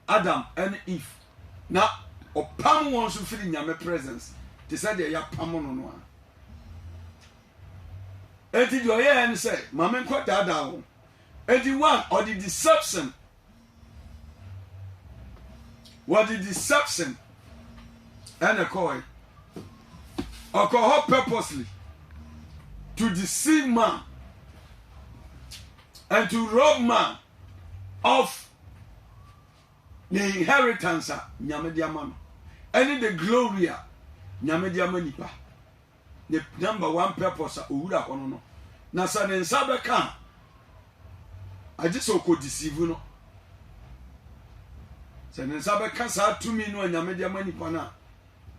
Adam ne Eve na ɔpam wɔn nso firi Nyame presence te sɛ deɛ yɛapam no no a. Enti deɛ ɔyɛɛ ne sɛ ma menkɔ daadaa wɔn. Enti one ɔde deception wɔde deception ɛna kɔɔe ɔkɔ hɔ purposely to deceive man and to rob man of the inheritance a nyame de ama no ɛne the glory a nyame de ama nipa ne number one purpose a owura hɔ no no na sɛ ne nsa bɛka a agye sɛ ɔkɔ deceive no sɛ ne nsa bɛka saa tumi no a nyame de ama nipa no a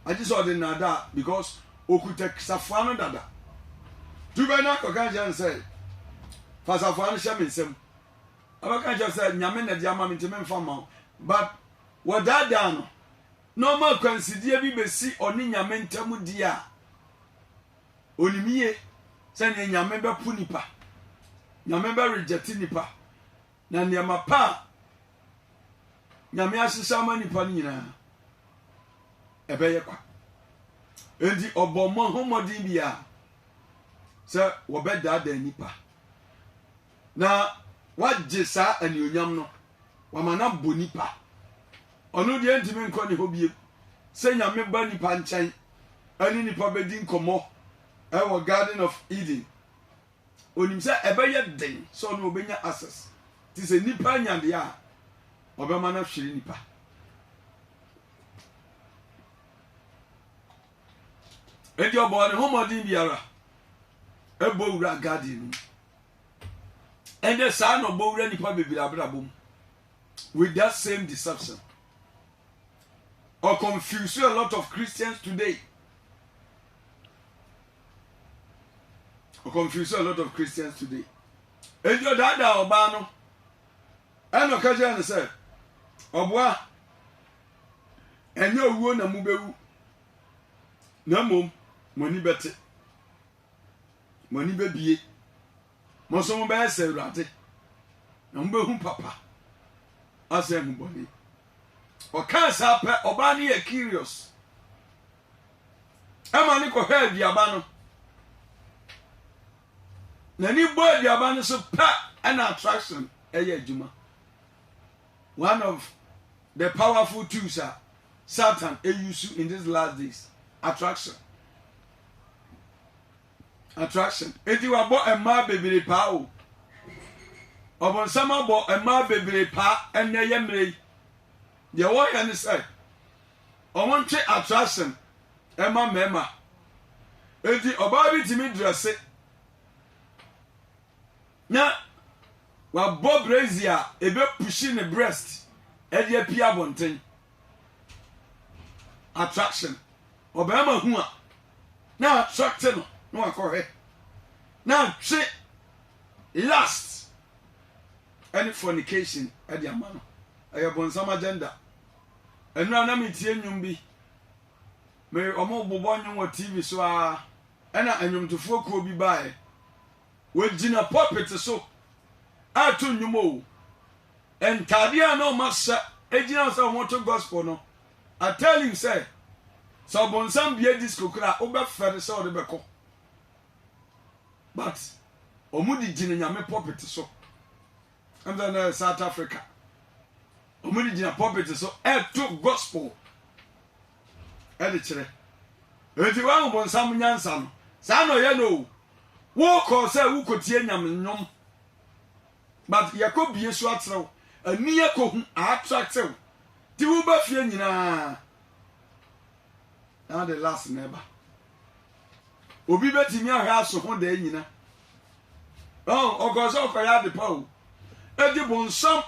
agye sɛ ɔde nnaadaa because okuta safoa no dada. Tu bɛ na kɔka nkyerɛ no sɛ, fa safoa no hyɛ me nsam. Ɔbɛka nkyerɛ sɛ nyame na de ama me nti memfa mma wo. But wɔdaadaa no na ɔma akwansideɛ bi bɛsi ɔne nyame ntam di a, onim yie sɛdeɛ nyame bɛpo nipa, nyame bɛ reject nipa. Na nneɛma pa a Nyame ahyehyɛ ama nipa no nyinaa, ɛbɛyɛ kwa. Enti ɔbɔ mmɔ ho mmɔden bi a sɛ wɔbɛdaadaa nipa na wagye saa anuonyam no wama no abɔ nipa. Ɔno deɛ ntumi nkɔ ne hɔ biem. Sɛ Nyame ba nipa nkyɛn ɛne nipa bɛdi nkɔmmɔ ɛwɔ Garden of Eden onim sɛ ɛbɛyɛ den sɛ ɔno ɔbɛnya access te sɛ nipa anya deɛ a ɔbɛma no ahwere nipa enti ɔbɔɔ ne ho mmɔden biara ɛbɔ wura garden no ɛnɛ saa na ɔbɔ wura nipa bebree abrabɔ mu with that same deception or confuse a lot of Christians today. o confuse a lot of christians today enti ɔdaadaa ɔbaa no ɛna ɔka kyerɛ no sɛ ɔboa ɛnyɛ owuo na mobɛwu na mmom mo ani bɛte mo ani bɛbie mo nso mobɛyɛ sɛ awurade na mobɛhu papa asɛ hu bɔne ɔkaa saa pɛ ɔbaa no yɛ curious ɛma ne kɔhwɛ aduaba no n'ani bɔ aduaba no so pɛ ɛna attraction ɛyɛ adwuma one of the powerful tools a satan eyusu in these last days attraction attraction eti wabɔ mmaa bebree paa o ɔbɔnsam abɔ mmaa bebree paa ɛnna ɛyɛ mmerɛ yi deɛ wɔyɛ ne sɛ. wɔntwe atrahyɛm mma mmarima. Enti ɔbaa bi tumi drɛse na wabɔ brazier a ɛbɛpuhyi ne breast de apue abɔnten. Attraction. Ɔbarima hu a na attracte no na wakɔhwɛ na atwe last ɛne fornication ɛde ama no ɛyɛ bɔnsam agenda Nnora na metie nnwom bi. Me wɔbobɔ nnwom wɔ TV so ara. Ɛna nnwomtofoɔ kuo bi baeɛ. Wɔgyina pulpit so ato nnwom o. Ntaadeɛ a na wɔahyɛ gyina sɛ wɔto gospel no, I tell you sɛ, sɛ ɔbonsam bie disco koraa a, wobɛfɛre sɛ wode bɛkɔ. But wɔde gyina Nyame pulpit so. Ɛna na South Africa. Wɔn de gyina pulpit so ɛto gospel ɛde kyerɛ. Eti wɔn ahobonsam nyansa no saa na ɔyɛ no o. Wokɔ sɛ wokɔ tie nyame nnwom but yɛkɔ bie so akyerɛw ani ɛkɔ hu attractive ti wo ba fie nyinaa na de last na ɛba. Obi betumi ahwɛ aso ho daa nyina. Oh, ɔkɔɔ sɛ ɔkɔyɛ ade pa o. Eti bonsam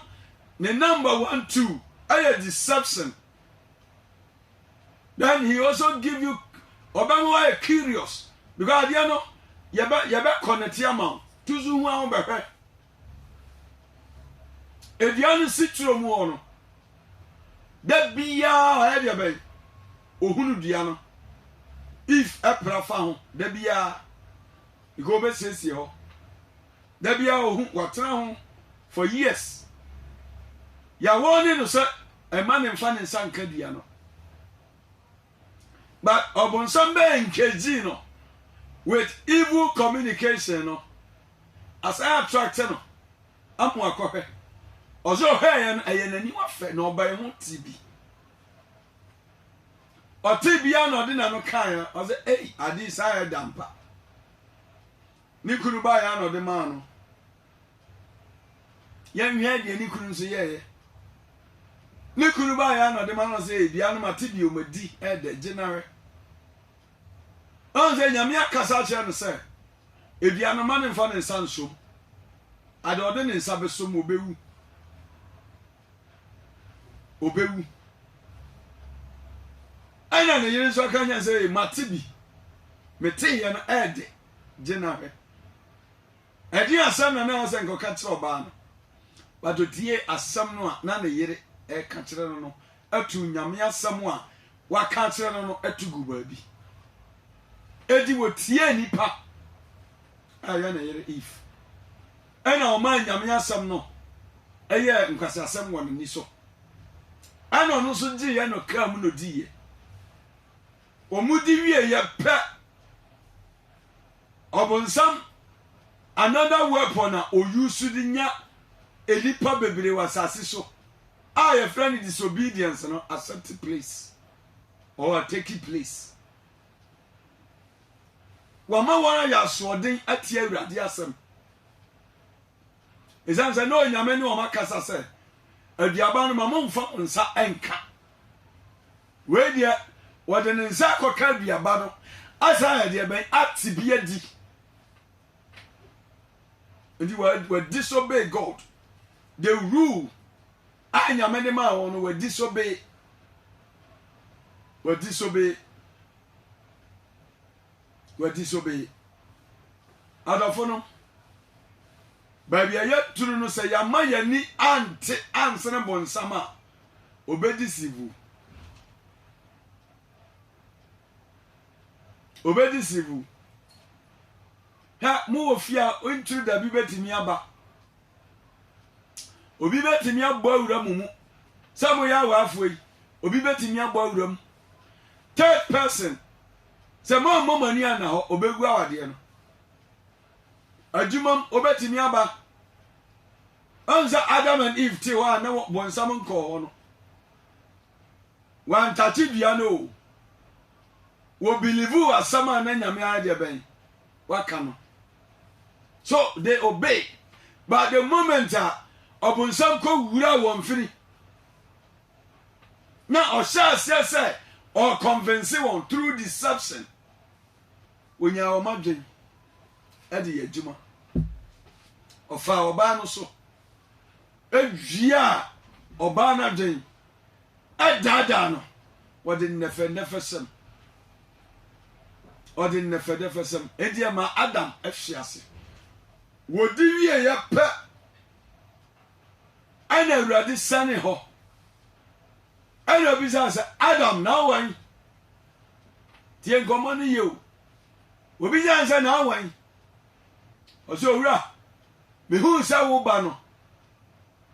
ne number one two ɛyɛ deception. Then he also give you ɔbɛma wayɛ curious because adeɛ no yɛbɛ yɛbɛ connect ama wo. Tu so hu ahobɛhwɛ. Dua no si turo mu hɔ no, da biara ɔyɛ deɛ bɛn? Ɔhunu dua no. If ɛpra fa ho da biara, nka ɔbɛsiesie hɔ. Da biara ɔhu, watena ho for years. Yɛawɔne no sɛ ɛma ne mfa ne nsa nka dua no. But ɔbonsam bɛyɛ nkedzi no with evil communication no asan attract no ama ɔakɔhwɛ. Ɔdze ɔhwɛɛyɛ no ɛyɛ n'enyiwa fɛ na ɔbae ho tsee bi. Ɔtsee bi ara na ɔdze n'ano kãe a ɔdze ei ade yi saa ayɛ dampa. Ne kunu baeɛ ara na ɔde maa no. Yɛnhwɛ deɛ ne kunu nso yɛeɛ. Ne kunu baeɛ ara na ɔde maa no sɛ ebia no mate bio madi ɛdɛ gye nare. Ɔn sɛ nyame akasa akyerɛ no sɛ ebia no ma ne mfa ne nsa nsom. Ade ɔde ne nsa bɛsom obewu. Obewu. Ɛna ne yere nso aka nyɛ sɛ mate bi. Mete yɛ no ɛdɛ. gyina hwɛ. Ɛdeɛn asɛm na na ɛwɔ sɛ nka ɔka kyerɛ ɔbaa no? But ɔtie asɛm no a na ne yere ɛka kyerɛ no no atu Nyame asɛm a waka akyerɛ no no atu gu baabi. Ɛdi wɔtiee nipa a ɛyɛ ne yere if ɛna ɔmaa Nyame asɛm no ɛyɛ nkwasi asɛm wɔ n'ani so ɛna ɔno nso gyeeɛ no kaa mu no diiɛ. Wɔdi wieeɛ pɛ, ɔbonsam another weapon a ɔ use de nya nnipa bebree wɔ asase so a yɛfrɛ no disobedience no accept place or take place. Wɔama wɔn ayɛ asoɔden atia Awurade asɛm. Ɛsiane sɛ na Onyame ne wɔn akasa sɛ, aduaba no ma momfa mo nsa nka. Wei deɛ, wɔde ne nsa akɔka aduaba no asan ayɛ deɛ bɛn ate bi adi. Nti wa wa disobey God. The rule a nyame de maa wɔn no wa disobey. Wa disobey. Wa disobey. Adɔfo no, baabi a yɛduru no sɛ yɛama yɛni ante ansene bonsam a, obedzi sivu, obedzi sivu. Hwɛ, mowɔ fie a nkyiri da bi betumi aba. Obi betumi abɔ awura mu mu. Sɛ moyɛ awaafo yi, obi betumi abɔ awura mu. Third person, sɛ moammɔ mo ani anna hɔ, obegu awadeɛ no. adwumam wobɛtumi aba. Ɔn sɛ Adam and Eve te hɔ a na bɔnsam nkɔɔ hɔ no, wɔantate dua no o. Wɔbilivu asɛm a na Nyame ayɛ deɛ bɛn waka no. So they obey. But the moment a ɔbonsam kɔ wura wɔn firi na ɔhyɛ aseɛ sɛ ɔconvince wɔn through deception. Ɔnyaa wɔn adwene de yɛ adwuma. Ɔfaa ɔbaa no so wiaa ɔbaa no adwene, ɛdaadaa no, ɔde nnɛfɛnnɛfɛsɛm ɔde nnɛfɛnnɛfɛsɛm ɛdi ɛma Adam ɛhwe ase. Wɔdi wieɛ pɛ, Ɛnna Awurade sianee hɔ, ɛnna obisaa sɛ, Adam, na awan? Tie nkɔmmɔ no yie o. Obisaa no sɛ, na awan? Ɔsɛ, Owura, mehuu sɛ wo ba no,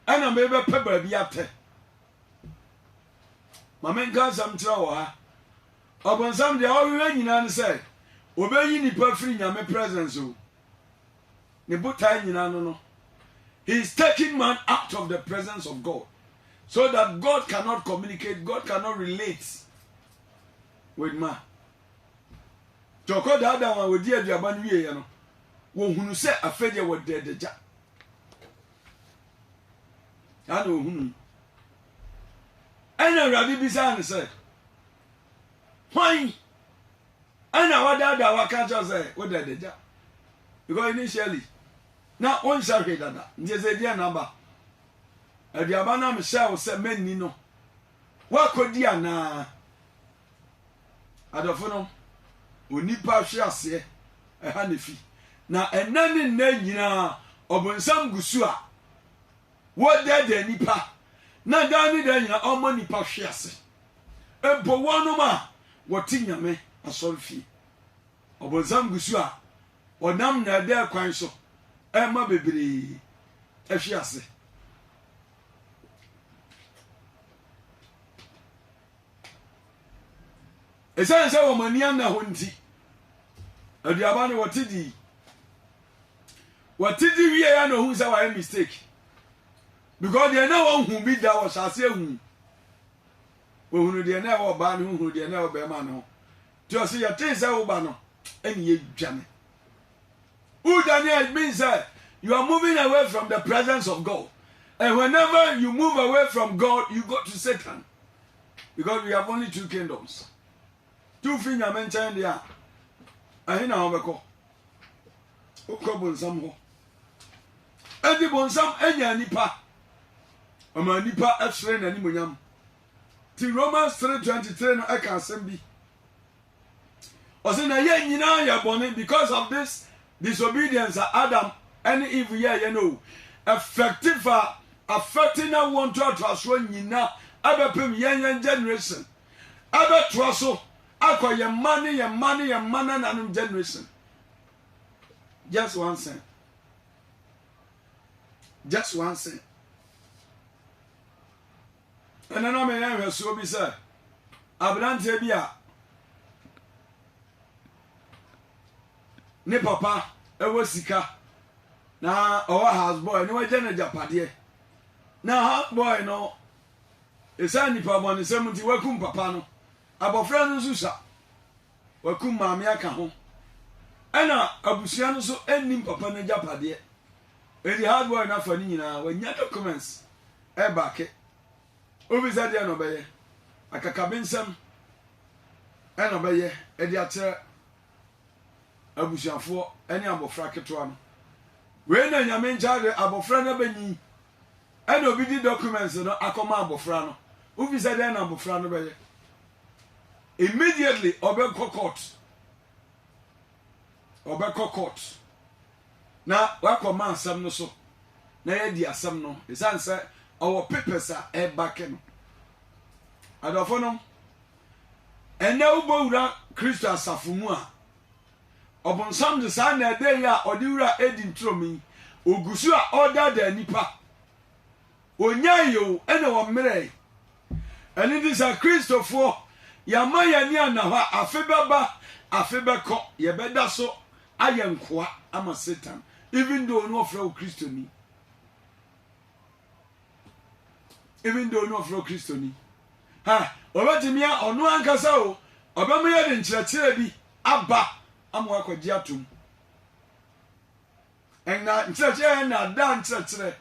ɛnna merebɛpɛ baabi atɛ. Ma menka asɛm kyerɛ wɔ ha. Ɔbonsam deɛ ɔhwehwɛ nyinaa ne sɛ obeyi nipa firi Nyame presence o. ne botae nyinaa no no, he is taking man out of the presence of God so that God cannot communicate, God cannot relate with man. Nti ɔkɔ daadaa wɔn a wɔdi aduaba no wieɛ no, wɔhunu sɛ afei deɛ wɔda adagya. Saa na wɔhunu yi. Ɛna Awurade bisaa no sɛ, hwan ɛna wadaadaa waka akyerɛ wo sɛ wodɛ adagya because initially na wonhyɛ hwee dada nti sɛ ɛdeɛ na aba aduaba no a mehyɛ wo sɛ mɛnni no woakɔdi anaa adɔfo no onipa hwe aseɛ ɛha na fi na ɛnɛ ne nnɛ nyinaa ɔbonsam gu so a wɔdɛɛdɛ nipa na daa ne daa nyinaa ɔmmɔ nipa hwe ase mpo wɔnom a wɔte Nyame asɔrefie. Ɔbonsam gu so a ɔnam nɛɛdɛɛ kwan so ɛma bebree ɛhwe ase. Ɛsiane sɛ wɔn ani anna hɔ nti, aduaba no wɔte di. Wɔte di wie ya na ohun sɛ wɔayɛ mistake. Because deɛ na wɔn hu bi da wɔ hyɛ ase ehu. Ohunu deɛ na ɛwɔ ɔbaa no ho, ohunu deɛ na ɛwɔ bɛrima no ho. Nti ɔse yɛtee sɛ woba no, ɛne yɛdwane. Wodwane a it means sɛ you are moving away from the presence of God. And whenever you move away from God, you go to Satan. Because we have only two kingdoms. Two fi nyame nkyɛn deɛ a, ɛhe na wɔbɛkɔ? wokɔ bonsam hɔ ɛnti bonsam anya nipa ɔma nipa ɛsere n'animonyam ti romans 323 no ɛka asɛm bi ɔsɛ na yɛ nyinaa yɛ bɔne because of this disobedience a adam ɛne eve yɛɛyɛ no o ɛfɛkte fa afɛkte na wɔn ntoatoasoɔ nyinaa ɛbɛpem yɛn yɛn generation ɛbɛtoa so Akɔ yɛn mma ne yɛn mma ne yɛn mma nananom generation. Just one thing. Just one thing. Ɛnna na meyɛ nhwɛsoɔ bi sɛ aberanteɛ bi a ne papa ɛwɔ sika na ɔwɔ house boy ne wagya no agyapadeɛ na house boy no ɛsiane nipa bɔnesɛm nti wakum papa no Abɔfra no nso sua. Wakum maame aka ho. Ɛna abusua no nso nnim papa no agyapadeɛ. Enti hardboy no afa ne nyinaa, wanya documents ɛbake. Wobisa deɛ na ɔbɛyɛ? Akakabensɛm ɛna ɔbɛyɛ ɛde akyerɛ abusuafoɔ ɛne abɔfra ketewa no. Wei na Nyame nkyɛn ade abɔfra no abɛnyin. Ɛna obi de documents no akɔma abofra no. Wofi sɛ dɛn na abofra no bɛyɛ? Immediately ɔbɛkɔ court. Ɔbɛkɔ court. Na wakɔma asɛm no so. Na yɛadi asɛm no. Ɛsiane sɛ ɔwɔ papers a ɛba kɛ no. Adɔfo no, ɛnɛ wobɔ wura Kristo asafo mu a, Ɔbonsam de saa nnɛɛdɛe a ɔde wura Eden turom yi, ogu so a ɔredaadaa nnipa. Onyae o, ɛna wɔmmerɛe. Ɛno nti sɛ Kristofoɔ, yɛama yɛn ani anna hɔ a, afe bɛba, afe bɛkɔ, yɛbɛda so ayɛ nkoa ama Satan, even though ɔno ɔfrɛ wo Kristoni. even though no ɔfrɛ kristoni ha ɔbɛtumi a ɔno ankasa o ɔbɛma yɛ de nkyerɛkyerɛ bi aba ama wakɔgye atom ɛna nkyerɛkyerɛ yɛ na ada nkyerɛkyerɛ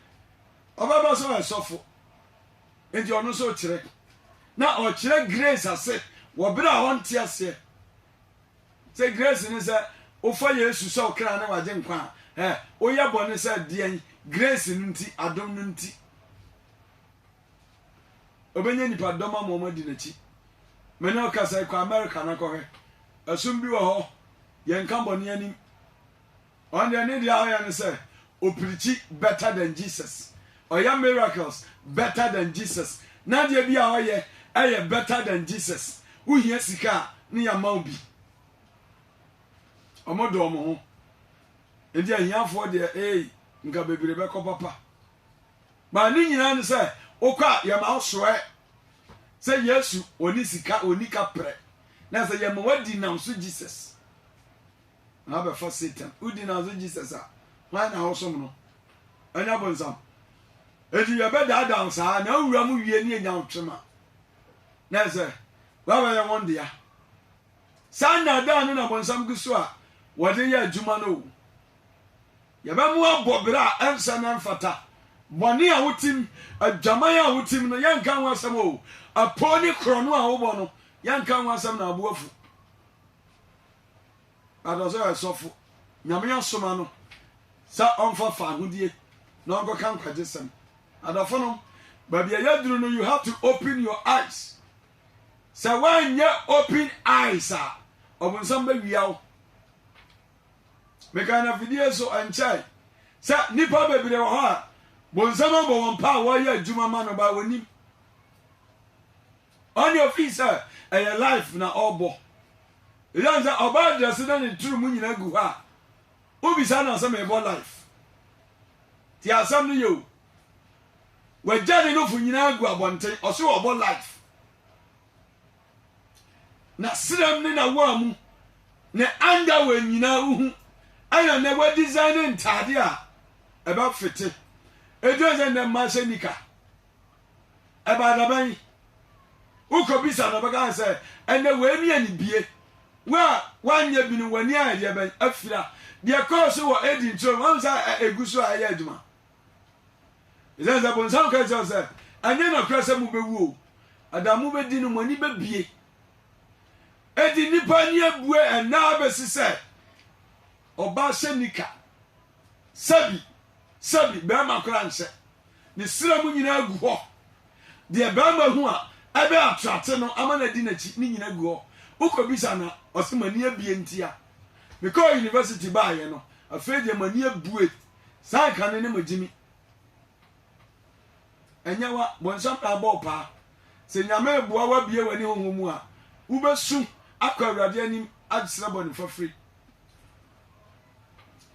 ɔbɛba sɛ ɔyɛ sɔfo nti ɔno nso kyerɛ na ɔkyerɛ grace ase wɔ berɛ a ɔnte aseɛ Sɛ grace ne sɛ wofa Yesu sɛ wo kra ne w'agyenkwa a, ɛ, woyɛ bɔne sɛ deɛn? Grace no nti, adom no nti. Obɛnya nipa dɔm ama wɔn adi n'akyi. Me ne ɔkasa yi kɔ America na kɔhwɛ. Ɛsom bi wɔ hɔ, yɛnka bɔne anim. Ɔno deɛ ne deɛ ɔyɛ ne sɛ o preachi better than Jesus, ɔyɛ miracles better than Jesus, n'adeɛ bi a ɔyɛ ɛyɛ better than Jesus, wo hia sika a ne yɛ ama wo bi. Ɔmo dɔ ɔmo ho, nti ahiafoɔ deɛ eei nka bebree bɛkɔ papa. Ba ne nyinaa ne sɛ wokɔ a yɛma wo soɛ sɛ Yesu ɔne sika ɔni kaprɛ na sɛ yɛma wadi nam so Jesus. na abɛfa Satan. Wodi n'adze Jesus a, hwan na ɔsom no? Ɔnnyɛ bɔnsam. Ntsi yɛbɛdaadaa wo saa na ewura mu wie na yenya wo kyema. Na ɛsɛ, woabɛyɛ hɔn dea. Saa nnaadaa no na bɔnsam gu so a wɔdze yɛ adwuma no o. Yɛbɛma ɔabɔ bra a ɛnnsɛ na ɛmmfata. Bɔne a wotsim, adwaman a wotsim no, yɛnnka ho asɛm o. Apoo ne korɔno a wobɔ no, yɛnnka ho asɛm na abo afuw. But ɔsɛ ɔyɛ sɔfo. Nyame asoma no sɛ ɔmfa fahodie na ɔnkɔka nkwagye sɛm. Adɔfonom, baabi a yɛaduru no, you have to open your eyes. Sɛ woanyɛ open eyes a, ɔbonsam bɛwia wo. Mekaa na fidie so ɛnkyɛe sɛ nnipa bebree wɔ hɔ a bonsam abɔ wɔn pa a wɔyɛ adwuma ma no ba wɔnim. Ɔne ofii sɛ ɛyɛ live na ɔbɔ. Esiane sɛ ɔbaa dresse na ne tiri mu nyinaa gu hɔ a, wobisaa no asɛ mebɔ live. Ti asɛm no yɛ o. Wagya ne nofo nyinaa gu abɔnten, ɔse ɔbɔ live. Na serem ne na woa mu, ne underwear nyinaa wohu, ɛna nɛ wa design ntaade a ɛbɛfete. Ɛdurɛ sɛ nɛ mmaa hyɛ nika. Ɛbaa da bɛn? Wokɔbisa no, ɔbɛka sɛ, ɛnɛ wei ne anibie. Wo a woanyɛ bi no, w'ani ayɛ deɛ bɛn? Afira. Deɛ ɛkɔɔ so wɔ Eden turo no, woahu sɛ ɛgu so a ɛyɛ adwuma? Ɛsiane sɛ bonsam ka kyerɛ sɛ, ɛnyɛ nokorɛ sɛ mobɛwu o, ɛda a mobɛdi no, mo ani bɛbie. Edi nnipa ani abue ɛnnɛ ara bɛsi sɛ ɔbaa hyɛ nika. Sɛbi, sɛbi, barima koraa nhyɛ. Ne srɛ mu nyinaa gu hɔ. Deɛ barima hu a ɛbɛ atrate no ama no adi n'akyi ne nyina gu hɔ. Wokɔbisa no a, ɔse m'ani abie ntia. Mekɔɔ university baeɛ no, afei deɛ m'ani abue. Saa nka no ne mo gyimi. Ɛnyɛ wa, bonsam na abɔ wo paa. Sɛ Nyame reboa wo abie w'ani honhom mu a, wobɛsu akɔ Awurade anim asrɛ bɔne fafiri.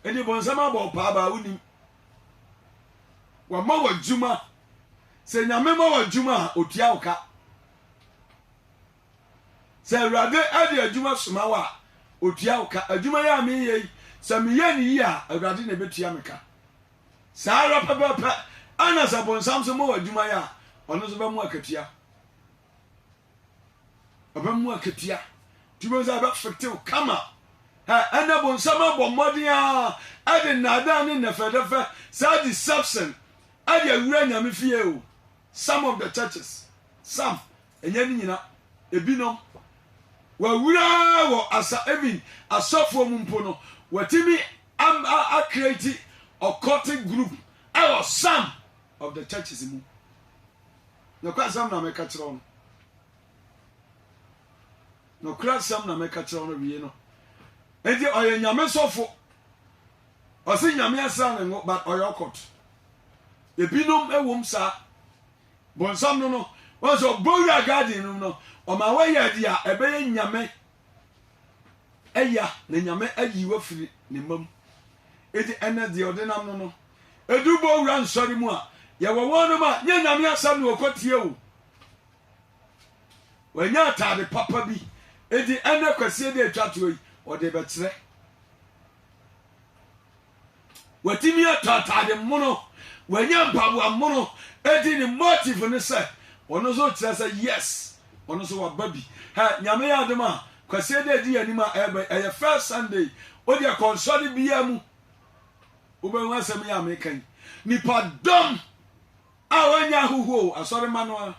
Ɛdi bɔnsam abɔ paa baa wonim. Wama w'adwuma. Sɛ nyame ma w'adwuma a otua wo ka. Sɛ awurade ɛde adwuma soma wo a otua wo ka. Adwuma yi a meyɛ yi sɛ meyɛ ne yie a awurade na ɛbɛtua me ka. Saa ara pɛpɛpɛ ɛna sɛ bɔnsam so ma w'adwuma yɛ a ɔno nso bɛmo akatua. Ɔbɛ mu akatua. Ti bɛ nsa bɛ fitew kama. Ɛ ɛnna bonsam abɔ mmɔden ara ɛde nnaadaa ne nnɛfɛdɛfɛ saa deception ɛde awura Nyame fie o. Some of the churches, some, ɛnyɛ ne nyina, ebinom, wawura wɔ asa even asɔfoɔ mu mpo no watimi am a a create occultic group ɛwɔ some of the churches mu. Nokwasɛm na meka kyerɛ wo no. Nokwasɛm na meka kyerɛ wo no wie no. Enti ɔyɛ nyame sɔfo. Ɔse nyame asra ne ngo but ɔyɛ ɔkɔt. Ebinom ɛwom saa. Bonsam no no, wɔn sɛ ɔbɔ wura garden no no, ɔma wɔyɛ adi a ɛbɛyɛ nyame Eya, na Nyame ayi wo afiri Ne mma mu. Enti ɛnnɛ, deɛ ɔde nam no no, ɛduru Bowura Nsɔre mu a, yɛwɔ wɔnom a, nyɛ Nyame asɛm na wɔkɔtie o. Wanya ataade papa bi, enti ɛnnɛ kwasie deɛ ɛtwa toɔ yi, ɔde rebɛkyerɛ. Watumi atɔ atade mono, wanya mpaboa mono, edi ne motive ne sɛ ɔno nso kyerɛ sɛ yes, ɔno nso waba bi. Hɛ, nyame yɛ adom a, kwasie dɛ di anim a ɛba yi, ɛyɛ first Sunday, o deɛ kɔnsɔre biara mu, wobɛhu asɛm yi a meka yi. Nipa dɔm a wɔanya ahohoɔ o, asɔre ma no a,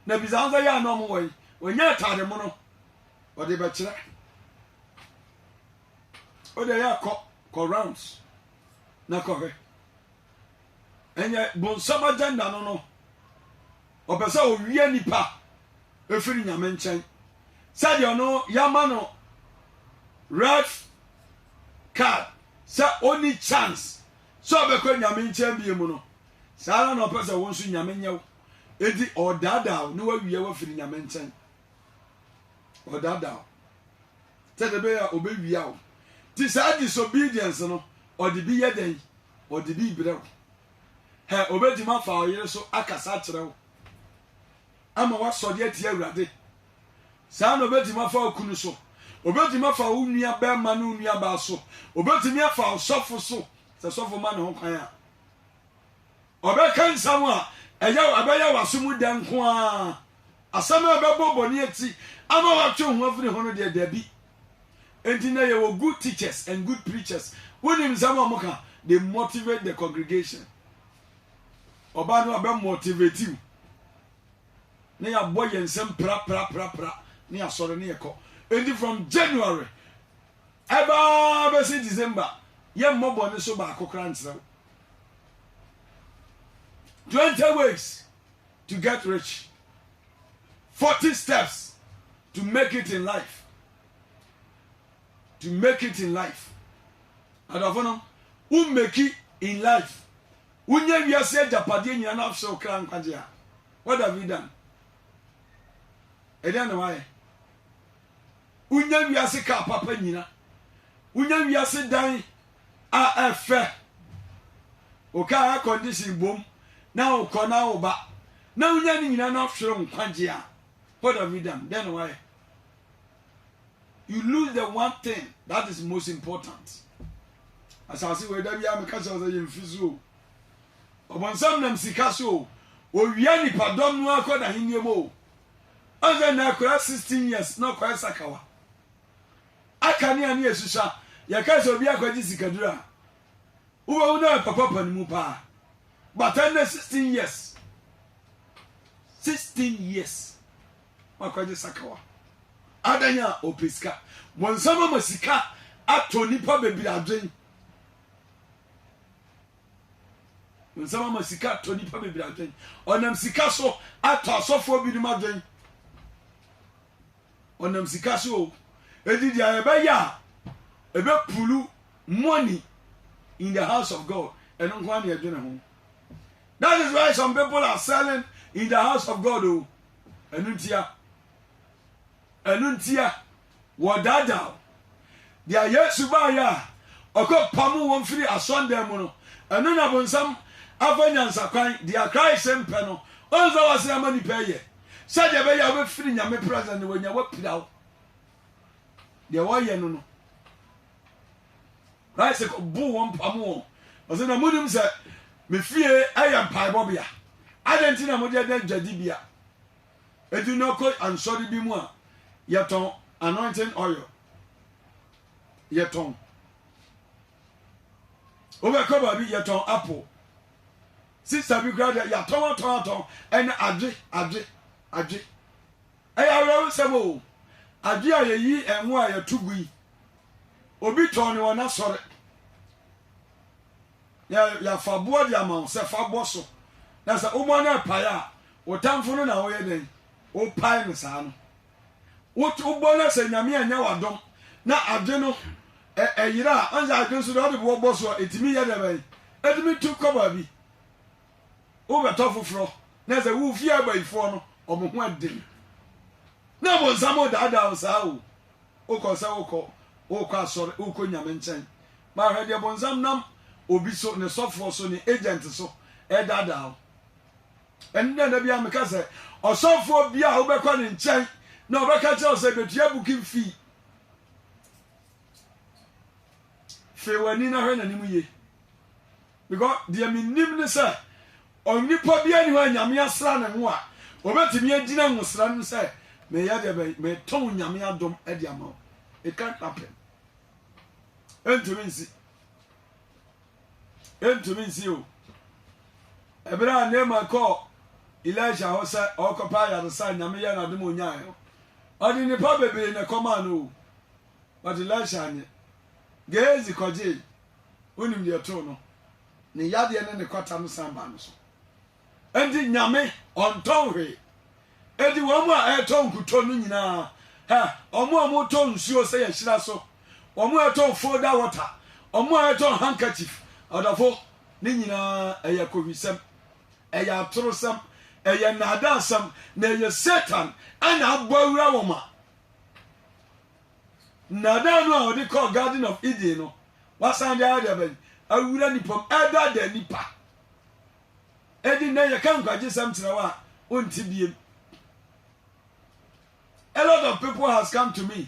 na bisa ho sɛ yɛ a na ɔmo wɔ yi, wɔnya atade mono, ɔde bɛkyerɛ. Wode ɛyɛ a kɔ kɔ rounds na kɔhwɛ. Ɛnyɛ bonsam agenda no no. Ɔpɛ sɛ ɔwie nipa ɛfiri nyame nkyɛn. Sɛdeɛ ɔno yɛama no red card sɛ ɔni chance sɛ ɔbɛkɔ nyame nkyɛn bie mu no. Saa ara na ɔpɛ sɛ wo nso nyame nyɛ wo. Enti ɔdaadaa wo na wawie wafiri nyame nkyɛn. Ɔdaadaa wo. Sɛdeɛ ɛbɛyɛ a ɔbɛwia wo. Nti saa disobedience no, ɔde bi yɛ dɛn? Ɔde bi brɛ wo. Hɛ, ɔbɛtumi afa wo yere so akasa akyerɛ wo, ama woasɔre atia Awurade. Saa na ɔbɛtumi afa wo kunu so. Ɔbɛtumi afa wo nua barima ne wo nua baa so. Ɔbɛtumi afa ɔsɔfo so, sɛ sɔfo ma ne ho kwan a. Ɔbɛka nsɛm a ɛyɛ ɛbɛyɛ w'aso mu dɛ nko ara. Asɛm a ɛbɛbɔ bɔne akyi ama woatwe wo ho afiri ho no deɛ, dabi. Enti nnɛ yɛwɔ good teachers and good preachers. Wonim nsɛm a wɔka? They motivate the congregation. Ɔbaa no a bɛ motivate wo na yɛabɔ yɛn nsɛm prapraprapra na yɛasɔre na yɛkɔ. Enti from January ɛbaa bɛsi December yɛmmɔ bɔne so baako koraa nkyerɛ wo. Twenty ways to get rich. Forty steps to make it in life. To make it in life. Adɔfo no, wo make it in life. Wonya wiase agyapadeɛ nyina na afsɛ wo kra nkwagye a. What have you done? Ɛdɛn na wayɛ? Wonya wiase kaa papa nyina. Wonya wiase dan a ɛfɛ wo car air condition bom na wokɔ na woba na wonya ne nyina na hwere nkwagye a what have you done dɛn na wayɛ you lose the one thing that is most important asase wei da biara meka kyerɛ sɛ yɛmfi so o ɔbɔnsam nam sika so o owia nipadɔm no akɔ n'ahenniɛ mu o ɔsɛ na akora 16 years na ɔkɔɛ sakawa akanea ne asusua. Yɛkae sɛ obi akɔgye sikaduru a, wobɛhu no ɛpapapa no mu paa. But ɛnnɛ 16 years. 16 years. Wakɔgye sakawa. Adan a ɔpɛ sika. Bonsam ama sika atɔ nnipa bebree adwen. Bonsam ama sika atɔ nnipa bebree adwen. Ɔnam sika so atɔ asɔfoɔ binom adwen. ɔnam sika so o eti deɛ ɛbɛyɛ a ɛbɛ pulu money in the house of God ɛno nko ara na ɛdwene ho that is why some people are selling in the house of God o ɛno ntia ɛno ntia wɔdaadaa Deɛ Yesu baeɛ a ɔkɔ pamoo wɔn firii asɔndan mu no, ɛno na bonsam afa nyansakwan, deɛ Christ mpɛ no, ɔnsa w'asene ama nnipa ɛyɛ, sɛdeɛ ɛbɛyɛ a wobɛfiri Nyame presence na wanya wapira wo. Deɛ wɔyɛ no no, Christ boo wɔn pamoo wɔn, ɔsɛ na monim sɛ me fie ɛyɛ mpaebɔbea, adɛn nti na mode ɛdɛ dwadibea? Etu no kɔ ansɔre bi mu a, yɛtɔn anointing oil. Yɛtɔn. Wobɛkɔ baabi yɛtɔn apple. Sista bi koraa deɛ yɛatɔn atɔn atɔn ɛne adwe adwe adwe. Ɛyɛ awerɛho nsɛm o. Adwe a yɛyi ɛnwo a yɛto gu yi, obi tɔn no wɔ n'asɔre. yɛ yɛafa boɔ de ama wo sɛ fa bɔ so na sɛ wobɔ no ɛpae a wo tamfo no na woyɛ dɛn wopae no saa no wobɔ no sɛ nyame anya wadom na ade no ɛyerɛ a ɔnsɛ ade nso deɛ ɔde boɔ bɔ so a ɛtumi yɛ dɛ bɛn ɛtumi tu kɔ baabi wobɛtɔ foforɔ na sɛ wo fie abayifoɔ no ɔmo ho ɛden na bonsam ɔdaadaa wo saa o wokɔ sɛ wokɔ wokɔ asɔre wokɔ nyame nkyɛn Ma hwɛ deɛ bonsam nam obi so, ne sɔfoɔ so, ne agent so ɛredaadaa wo. Ɛno na da biara meka sɛ, ɔsɔfoɔ biara a wobɛkɔ ne nkyɛn na ɔbɛka kyerɛ wo sɛ bɛtua booking fee. Fee w'ani na hwɛ n'anim yie. Because deɛ menim ne sɛ, onipa biara ni hɔ a Nyame asra ne ho a, obɛtumi agyina nwosra no sɛ, meyɛ deɛ bɛn, metɔn Nyame adom de ama wo. It can't happen. ɛntumi nsi ɛntumi nsi o ɛberɛ a Naaman kɔɔ Elisha hɔ sɛ ɔrekɔpɛ ayaresa a nyame yɛ n'adom onyaeɛ no ɔde nnipa bebree na ɛkɔmaa no o but Elisha anyɛ Gehazi kɔgyee wonim deɛ too no ne yadeɛ ne ne kwata no san baa no so Enti Nyame ɔntɔn hwee. Enti wɔn a ɛretɔ nkutoo no nyinaa, hɛ, wɔn a wɔretɔ nsuo sɛ yɛhyira so, wɔn a ɛretɔ folder water, wɔn a ɛretɔ handkerchief, ɔdɔfo, ne nyinaa ɛyɛ kowisɛm, ɛyɛ atorosɛm, ɛyɛ nnaadaasɛm, na ɛyɛ Satan ɛna abɔ awura wɔn a nnaadaa no a ɔde kɔɔ Garden of Eden no, wasan de ayɛ deɛ bɛn awura nipa mu, ɛdaadaa nipa. Enti nnɛ yɛka nkwagyesɛm kyerɛ wo a, wonte biem. A lot of people has come to me